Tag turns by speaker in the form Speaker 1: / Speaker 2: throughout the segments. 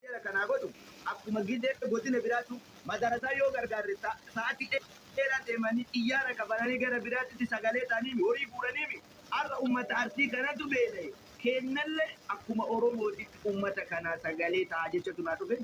Speaker 1: Seera kan haa godhu akkuma gizee godina biraatu madarasaa yoo gargaarre sa'atii dheeraa deemanii xiyyaara kafalanii gara biraatitti sagalee ta'aniimi horii guuraniimi har'a ummata Arsii kanatu beela'e keennallee akkuma Oromootitti ummata kanaa sagalee ta'aa jechatu naa dhufe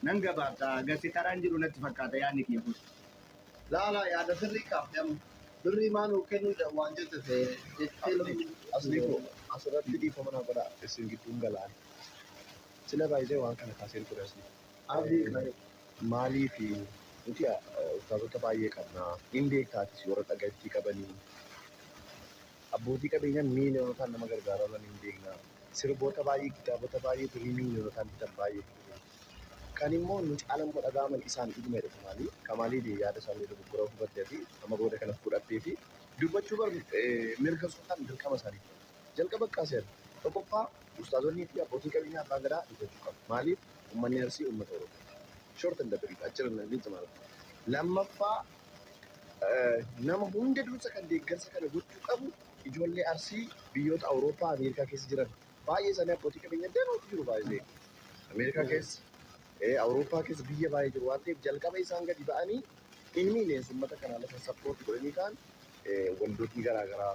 Speaker 1: nan gabaabsa hagassi karaan jiru natti fakkaata yaadni kiyya kun. Laalaa
Speaker 2: yaada sirrii kaafte amma. Birrii maa nuuf kennuu jedha waan jette ta'ee. Asliiko asirratti dhiifama naa godhaa isin gidduun galaani. Sila baay'ee waan kana kaaseen ture asii. Abdii qaali. Maaliif nuti ustaazota baay'ee qabna. Hin beektaatis warra dhagaittii qabanii. Abbootii qabeenyaa miiliyoonotaan nama gargaaraa turan hin beekna. Sirboota baay'ee, kitaabota baay'ee birrii miiliyoonotaan bitan baay'ee qabna. Kan immoo nu caalan immoo dhaga'aman isaan dhuguma jedha Kamaalii. Kamaalii dee yaada isaanii dogoggora hubatte ati amma booda kana fudhattee fi dubbachuu bar mirga osoo hin taane dirqama isaanii. Jalqaba Qaser, Tokkoffaa Ustaazonnii fi Abbootiin Qabeenyaa Abbaan Gadaa dubbachuu qaba. Maaliif? Ummanni Arsii Ummata Oromooti. Short and brief achirra na ni xumara. Lammaffaa Nama hunda dursa kan deeggarsa kana gochuu qabu ijoollee Arsii biyyoota Awurooppaa, Ameerikaa keessa jiran. Baay'ee isaanii abbootii qabeenyaa danuutu jiru by the way. Ameerikaa keessa, eh, Awurooppaa keessa biyya baay'ee jiru waan ta'eef jalqaba isaan gadi ba'anii in millions ummata kana lafa support godhanii kaan eh, waldootni garaa garaa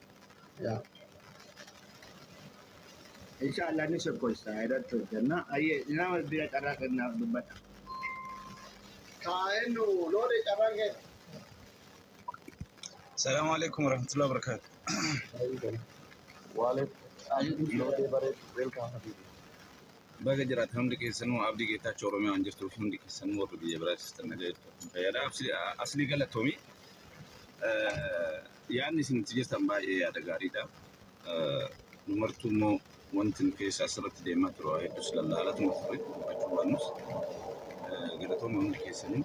Speaker 2: yaa
Speaker 1: insha Allah ni sokkoosta irratti hojjenna ayyee nama bira carraa kennaaf dubbadha kaa'ennu
Speaker 2: loode carraan kee Assalamu
Speaker 3: alaikum warahmatullahi wabarakatuh. Wallet loodee bareedu
Speaker 2: welcome habibi. Baga
Speaker 3: jiraatan hundi keessanuu abdii geetaachoo Oromiyaa waan jirtuuf hundi keessanuu warri biyya biraa jirtan nagaa jirtu. Fayyadaa asli- aslii galatoomi. Eh, Yaadni isin itti jirtan baay'ee yaada gaariidha. Nu martuu immoo wanti nu keessa asirratti deemaa ture waa hedduus lallaalatuma ture dubbachuu baannus galatooma hundi keessanii.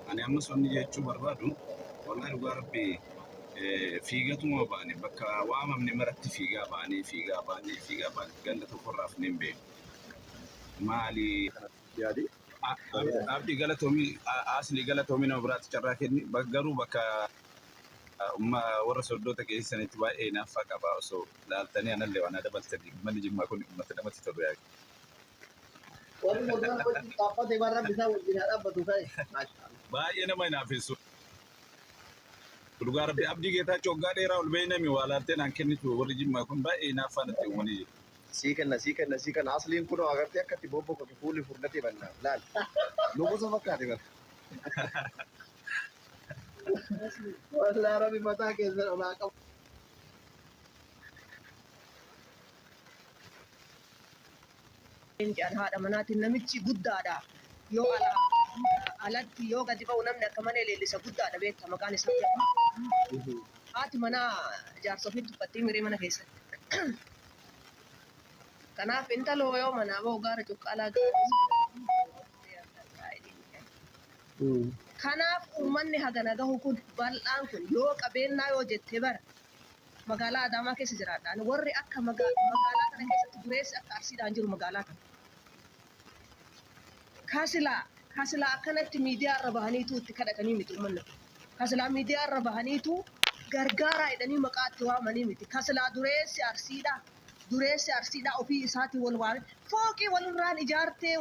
Speaker 3: Ani ammas wanni jechuu barbaadu wallahi dhugaa rabbii fiigatuma baane bakka waamamne maratti fiigaa baanee fiigaa baanee fiigaa baane ganda tokkorraa hafnee hin beeknu. Maali kanatti
Speaker 2: yaade
Speaker 3: Abdi galatoomii Asli galatoomii nama biraatti carraa kenni garuu bakka Warra sordoota keessanitti baay'ee hinaaffaa qaba osoo laaltanii anallee waan dabaltanii ummanni jimmaa kun ummata namatti tolu yaa Warri Moodaan
Speaker 2: wajjin dhaabbate waan rabbi isaa wajjin haa dhaabbatu ka'e. baay'ee nama
Speaker 3: hinaafessu dhugaa rabbi abdii geetaachoo waggaa dheeraa ol beeynami waa laaltee naan kennitu warri jimmaa kun baay'ee hinaaffaa natti uumanii jiru Sii kenna sii kenna sii
Speaker 2: kenna asliin kunoo agartee akkatti bobbokatu fuulli furdatee banna laal nugusa fakkaate bara. Wallah Rabbi mataa keessan olaa qabu.
Speaker 4: Leencaan haadha manaatiin namichi guddaadha. Yoo ala, alatti yoo gadi ba'u namni akka malee leellisa guddaadha beekta maqaan isaa jedhama. Haati manaa jaarsa ofii tuffattii miree mana keessatti. Kanaaf intaloo yoo manaa ba'u gaara cuqqaalaa gaara. Kanaaf uummanni hagana gahu kun bal'aan kun yoo qabeennaa yoo jette bar magaalaa Adaamaa keessa jiraadha ani warri akka magaalaa kana keessatti dureessi akka Arsiidhaa hin jiru magaalaa kana. Ka silaa ka silaa akkanatti miidiyaa irra bahaniituu itti kadhatanii miti uummanni kun. Ka silaa miidiyaa irra bahaniituu gargaaraa jedhanii maqaa itti waamanii miti. Ka silaa dureessi Arsiidhaa dureessi Arsiidhaa ofii isaatii wal waamee fooqii walirraan ijaartee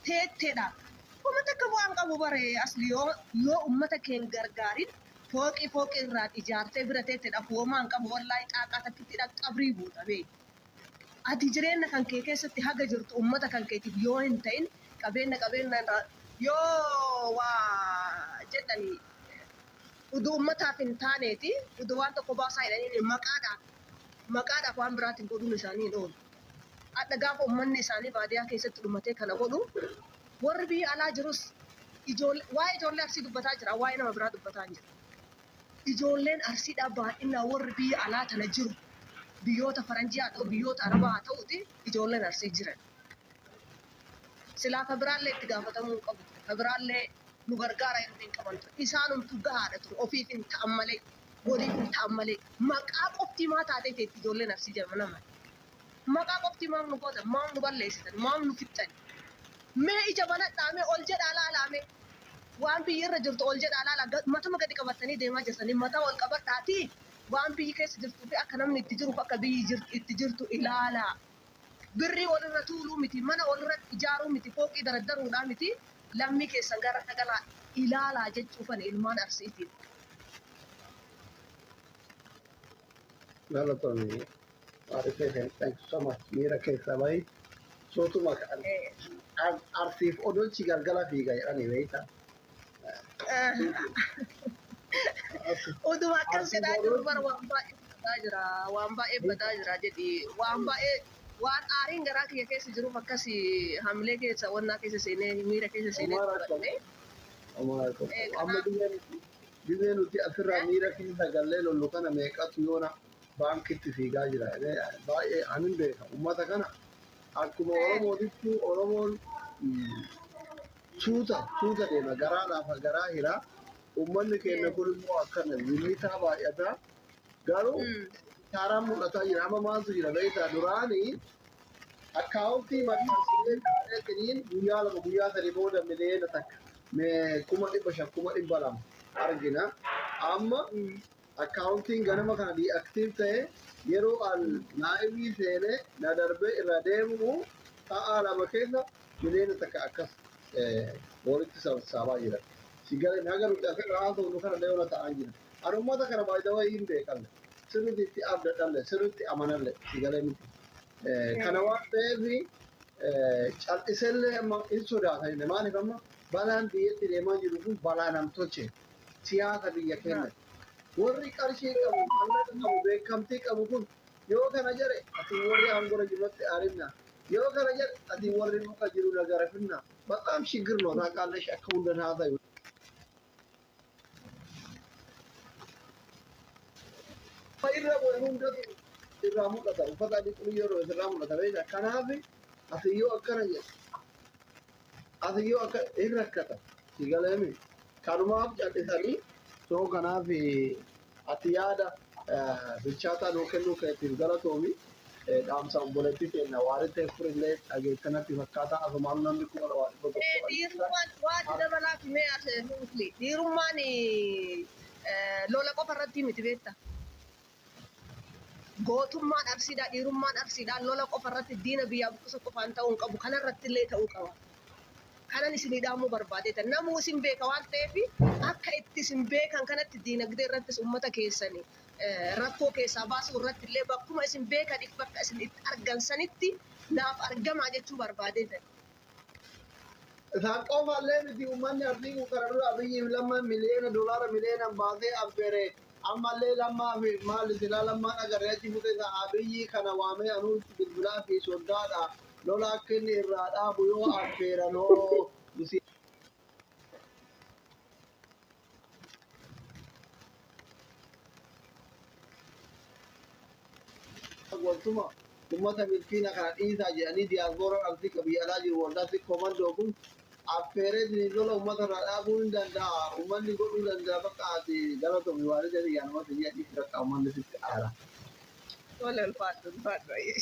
Speaker 4: teettedha. Homa takka bu'aa hin qabu bar asli yoo ummata kee hin gargaarin fooqii fooqii irraan ijaartee bira teette dhafu homaa hin qabu wallaahi xaaqaa takkittidhaan qabrii buuta bee ati jireenna kan kee keessatti haga jirtu ummata kan keetiif yoo hin ta'in qabeenna qabeenna irraa yoo waa jedhani uduu ummataaf hin taaneeti uduu waan tokko baasaa jedhaniin maqaadhaaf maqaadhaaf waan biraatiin godhuun isaanii hin oolu. Hadha gaafa ummanni isaanii baadiyaa keessatti dhumatee kana godhu warri biyya alaa jirus ijoollee waa'ee ijoollee Arsii dubbataa jira waa'ee nama biraa dubbataa hin jiru. Ijoolleen Arsiidhaa baay'inaan warri biyya alaa tana jiru biyyoota faranjii haa ta'u biyyoota arabaa haa ta'uti ijoolleen Arsii jiran. Silaa ka biraallee itti gaafatamuu hin qabu ture. Ka biraallee nu gargaara jedhu hin qaban ture. Isaanumtu gahaadha ture ofiif hin ta'an malee. Waliin bultaan malee maqaa qofti maa taatee teetti ijoollee nafsii jedhama nama maqaa qofti maaf nu gootan maaf nu balleessitan maaf nu fixxan mee ija banadhaa mee ol jedhaa laalaa mee waan biyyi irra jirtu ol jedhaa laalaa matuma gadi qabattanii deemaa jirtanii mataa ol qabadhaatii waan biyyi keessa jirtuu fi akka namni itti jiruuf akka biyyi itti jirtu ilaalaa. Birrii ol irra tuuluu miti, mana ol irratti ijaaruu miti, fooqii daraddaruudhaa miti, lammii keessan gara dhagalaa ilaalaa jechuufani ilmaan Arsiitiin.
Speaker 2: Galatomi Aadde Sefen thank you so much miira keessaa bahi sootuma kan Arsiif odolchi galgala fiiga jedhani beekta.
Speaker 4: Utuma akkas jedhaa jiru bara waan baay'ee badaa jira. Waan baay'ee badaa jira jedhi. Waan baay'ee waan aariin garaa kiyya keessa jiruuf akkas hamilee keessa wannaa keessa seenee miira keessa seenee
Speaker 2: dubbanne. Amma dhibee nuti asirraa miira keessa gallee lollu kana meeqatu yoona baankitti fiigaa jira. Baay'ee anin beeka. Uummata kana akkuma Oromootitti Oromoon Suuta suuta deema garaa laafa garaa hira ummanni keenna kun immoo akkana zimitaa baay'ataa garuu kaaraan mul'ataa jira amma maaltu jira beektaa duraanii akkaawuntii maxxansinee kaa'eetiniin guyyaa lama guyyaa sadi booda miliyoona takka kuma dhibba shan kuma dhibba lama argina amma Accountiin ganama kana deactive ta'e yeroo an live seene na darbee irraa deebi'u sa'aa lama keessa miliyoona takka akkas walitti sassaabaa jira. Si gale na galu nuti asirra haasofnu kana illee ona ta'aan jira. An ummata kana by the way hin beekalle. Sirriitti itti abdadhalle sirriitti amanalle si gale miti. Kana waan ta'eef cal'isellee amma hin sodaata maaliif amma balaan biyyatti deemaa jiru kun balaa nam tolcheeti. siyaasa biyya keenyati. Warri qarshii qabu, mallaqa qabu, beekamtii qabu kun yoo kana jedhe atii warri aangora jirutti arinna, yoo kana jedhe atii warri muka jiru na garafinna. Bataam shiggir no taaqaallash akka hundan haasayu. Ka irra bu'e hundatu irraa mul'ata. Uffata adii xurii yeroo irraa mul'ata beekta. Kanaafi atii yoo akkana jedhe Ati yoo akka hin rakkata si galeemi kanumaaf callisanii. So kanaaf ati yaada bilchaataa nuu kennuu keetiif galatoomi. Dhaamsa obboleettii teenna Waaritee Furillee dhageette natti fakkaata. Asumaanuu namni 200,000 Ee dhiirummaan
Speaker 4: waa itti dabalaati mee as Furufli. Dhiirummaan lola qofa irratti miti beekta. Gootummaan Arsiidhaa, dhiirummaan Arsiidhaa lola qofa irratti diina biyyaa buqqisuu qofaan ta'uu hin qabu, kana irratti illee ta'uu qaba. Kanan isinii dhaamuu barbaadeeta. Namuu isin beeka waan ta'eef akka itti isin beekan kanatti diinagdee irrattis uummata keessan rakkoo keessaa baasuu irratti illee bakkuma isin beekaniif bakka isin itti argan sanitti naaf argamaa jechuu barbaadeetan.
Speaker 2: Isaan qofaallee miti uummanni Arsii kun kana dura Abiyyiif Lammaan miliyoona doolaara miliyoonan baasee affeere ammallee Lammaaf maali silaa Lammaan agarre achi futee isaa Abiyyi kana waamee anuu itti bilbilaa fi soddaadha lola akka inni irraa dhaabu yoo affeeran hoo waltuma ummata miskiina kana dhiisaa jedhanii diyaasbooraa artii ka biyya alaa jiru waldaa sik komandoo kun affeeree isiniin lola ummata irraa dhaabuu hin danda'a ummanni godhuu danda'a bakka ati galatomi waarii jedhi yaa namatti hin jedhi bakka ummanni sitti aara. Tola
Speaker 4: ulfaadhu ulfaadhu ayyee.